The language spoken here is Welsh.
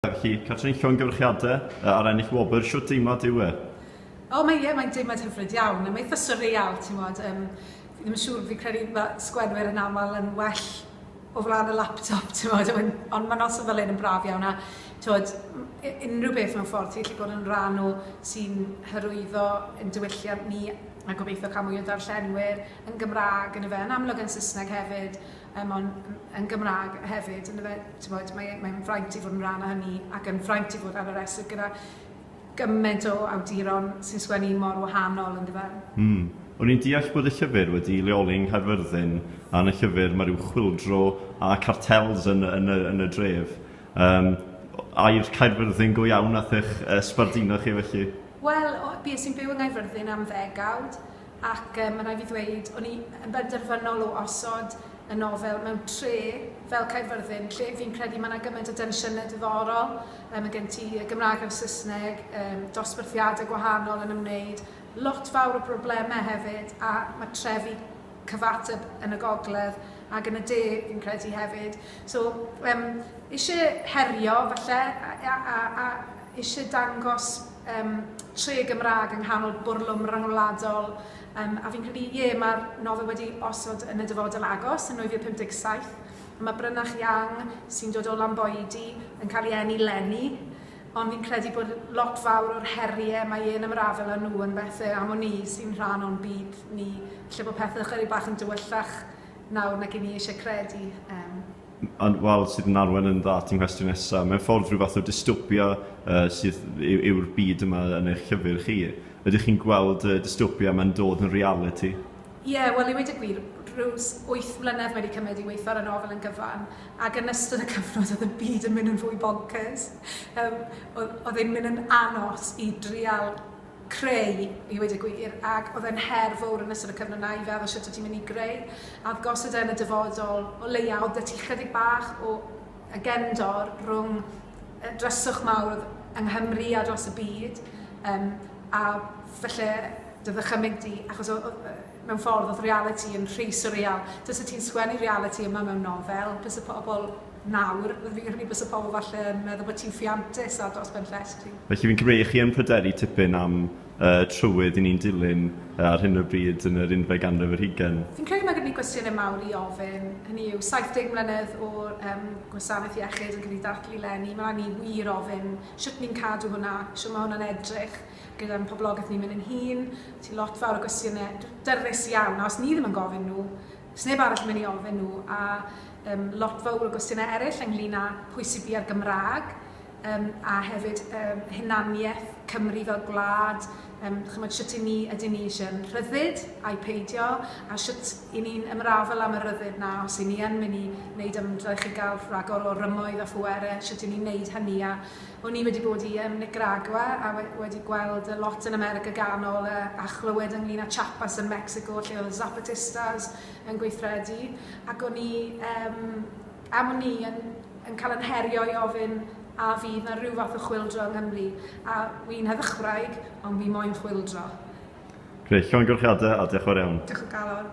Felly, Catrin Llongyfarchiadau ar ennill wobr, shwt deimlad yw e? O mae ie, mae'n deimlad hyfryd iawn, a mae eitha surreal, ti'n modd, um, fi ddim yn siŵr, fi credu mae sgwenwyr yn aml yn well o flaen y laptop, ti'n modd, ond mae noson fel hyn yn braf iawn, a tywed, unrhyw beth mewn ffordd, ti'n gallu bod yn rhan o sy'n hyrwyddo yn diwylliant ni, a gobeithio cael mwy o ddarllenwyr yn Gymraeg yn y fe, yn amlwg yn Saesneg hefyd, yym on- m- yn Gymraeg hefyd yndyfe t'mod mae e mae'n fraint i fod yn rhan o hynny ac yn fraint i fod ar y restr gyda gyment o awduron sy'n sgwennu mor wahanol yndyfe? Mm. O'n i'n deall bod y llyfr wedi leoli yng Nghaerfyrddin a yn y llyfr mae rhyw chwyldro a cartels yn yn y yn y dref. Yym o- air Caerfyrddin go iawn nath eich yy sbarduno chi felly? Wel o- bues i'n byw yng Nghaerfyrddin am ddegawd ac yy ma' raid fi ddweud o'n i yn benderfynol o osod y nofel mewn tre fel Caerfyrddin lle fi'n credu ma' 'na gymaint o densiynau diddorol yy ma' gen ti y Gymraeg a'r Saesneg yym dosbarthiadau gwahanol yn ymwneud lot fawr o broblemau hefyd a ma' trefi cyfateb yn y gogledd ac yn y de fi'n credu hefyd so yym isie herio falle a a a a eisiau dangos um, tre Gymraeg yng nghanol bwrlwm ryngwladol, um, a fi'n credu, ie, yeah, mae'r nofel wedi osod yn y dyfodol agos yn 1957, a mae Brynach Yang, sy'n dod o Lamboedi, yn cael ei enni lenni, ond fi'n credu bod lot fawr o'r heriau mae e'n ymrafel â nhw yn bethau am o'n ni sy'n rhan o'n byd ni, lle bod pethau chyri bach yn dywyllach nawr nag i ni eisiau credu. Um, Ond wel, sydd yn arwain yn dda at y nghwestiwn nesaf, mewn ffordd rhyw fath o dystopia sydd yw'r byd yma yn eich llyfr chi. Ydych chi'n gweld y dystopia yma'n dod yn realiti? Ie, wel i weud y gwir, rhyw wyth mlynedd mae wedi cymryd i weithio ar y nofel yn gyfan, ac yn ystod y cyfnod oedd y byd yn mynd yn fwy bonkers. Oedd e'n mynd yn anos i drial creu, i weud y gwir, ac oedd e'n her fowr yn ystod y cyfnod 'na i feddwl shwt o' ti'n mynd i greu a oedd gosod e yn y dyfodol, o leia' oedd 'da ti chydig bach o y gefndor rhwng y dryswch mawr oedd yng Nghymru a dros y byd, yym a falle dy ddychymyg di, achos o- o- yy mewn ffordd oedd realiti yn rhy surreal. Tase ti'n sgwennu realiti yma mewn nofel, byse pobl nawr, fi'n credu byse pobl falle yn meddwl bod ti'n ffiantus ar dros ben llest ti. Felly fi'n credu chi yn pryderu tipyn am y trywydd i ni'n dilyn ar hyn o bryd yn yr unfed ganrif ar hugain. Fi'n credu mae gyda ni gwestiynau mawr i ofyn, hynny yw, 70 mlynedd o um, gwasanaeth iechyd yn cael ei dathlu leni, mae rhaid ni wir ofyn sut ni'n cadw hwnna, sut mae hwnna'n edrych, gyda'n poblogaeth ni'n mynd yn hŷn, ti lot fawr o gwestiyne dyrys iawn, a os ni ddim yn gofyn nhw, sneb arall yn mynd i ofyn nhw, a um, lot fawr o gwestiyne eraill ynglyn â pwy sydd bia'r Gymraeg, um, a hefyd um, hunaniaeth Cymru fel gwlad, um, chymod, sut i ni, ydyn ni eisiau rhyddid a'i peidio, a sut i ni'n ymrafel am y rhyddid na, os i ni yn mynd i wneud ymdrech i gael rhagor o rymoedd a phwerau, sut i ni'n wneud hynny, a O'n i wedi bod i yn Nicaragua a we- wedi gweld y lot yn America Ganol a, a chlywed ynglyn â Chiapas yn Mecsico lle oedd y Zapatistas yn gweithredu ac o'n i um, am o'n i yn, yn cael yn herio i ofyn a fydd na rhyw fath o chwildro yng Nghymru a wi'n heddychwraig ond fi moyn chwildro. Gwych, llongyfarchiadau a diolch yn fawr iawn. Diolch o galon.